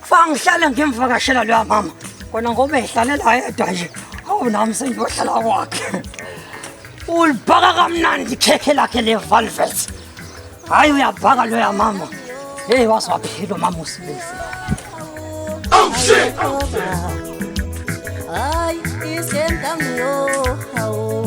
Kufanele ngihlale ngimvakashela loya mama. Kona ngoba ehlalela yedwa nje. Awu nami sengiyohlala kwakhe. Ulibhaka kamnandi khekhe lakhe le velvet. Hayi uyabhaka loya mama. Hey waswaphilo mama usibisi. Oh shit. Oh, shit. Ay, isentangiyo. Oh, oh, oh.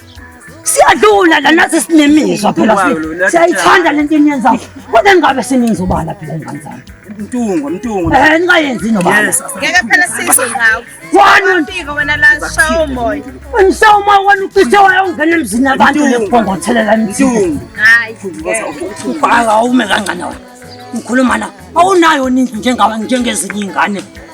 siyadlula la nathi sinemizwa phela siyayithanda lento eniyenzayo kodwa ningabe seningizobala phela ingane zami mtungo mtungo eh ningayenzi nobala ngeke phela size ngawo wani mpiko wena la shawo moya ngishaya umoya wena ucishe wayongena emzini abantu lephongothelela mtungo hayi ubhala ume kangana wena ngikhuluma la awunayo nintu njengawe njengezinye ingane